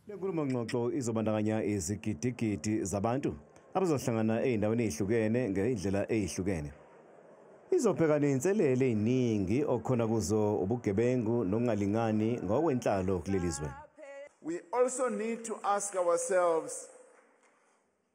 Le nkulumo-ngxoxo izobandakanya izigidigidi zabantu abazohlangana ezindaweni ezihlukene ngendlela ezihlukene. Izobheka nezinselele eziningi okukhona kuzo ubugebengu nokungalingani ngokwenhlalo kuleli zwe. We also need to ask ourselves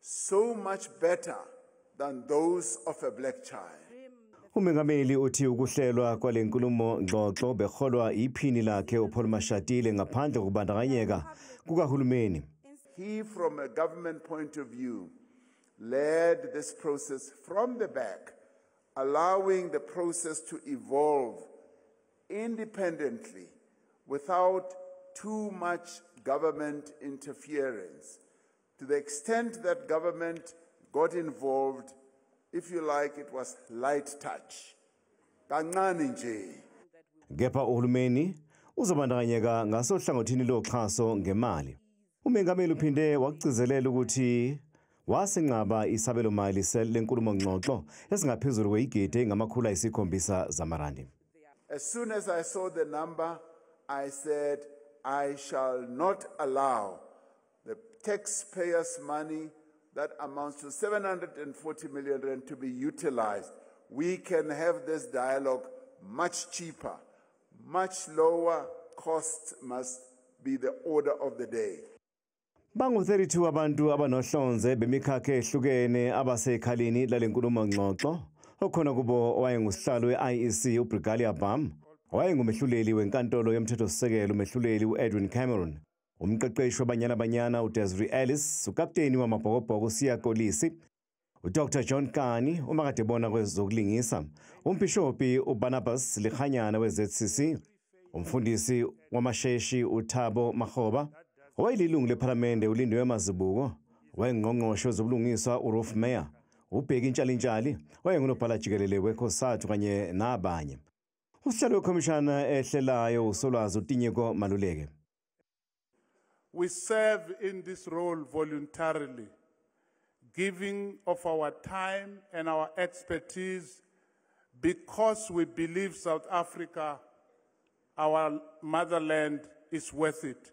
so much better than those of a black child. Umengameli uthi ukuhlelwa kwale nkulumo ngxoxo beholwa iphini lakhe uPaul Mashatile ngaphandle kokubandakanyeka kukahulumeni. He from a government point of view led this process from the back allowing the process to evolve independently without too much government interference. To the extent that government got involved, if you like, it was light touch. Kancane nje. Kepha uhulumeni uzobandakanyeka ngasohlangothini loxhaso ngemali. Umengameli uphinde wakugcizelela ukuthi wasinqaba isabelo mali lenkulumo ngxoxo esingaphezulu kweyigidi engamakhulu ayisikhombisa zamarandi. As soon as I saw the number, I said I shall not allow The taxpayers money that amounts to 740 million rand to be utilized. We can have this dialogue much cheaper, much lower costs must be the order of the day. Bangu-32 abantu abanohlonze bemikhakha ehlukene abasekhaleni lale nkulumo ngxoxo okhona kubo owayengusihlalo we-IEC uBrigalia Bam, owayengumehluleli wenkantolo yomthethosisekelo umehluleli u-Edwin Cameron, umqeqeshi wabanyana banyana udesri ellis ukapteni wamabhokobhoko usiya kolisi udr john kani umakadebona kwezokulingisa umbhishobhi ubarnabas likhanyana we-zcc umfundisi wamasheshi uthabo mahoba owayelilungu lephalamende ulindiwe mazibuko wayengqongqoshe wezobulungiswa urof mayor ubheki intshalintshali wayengunobhala jikelele wekosathu kanye nabanye Usihlalo wekhomishana ehlelayo uSolwazi uTinyeko Maluleke. We serve in this role voluntarily, giving of our time and our expertise because we believe South Africa, our motherland, is worth it.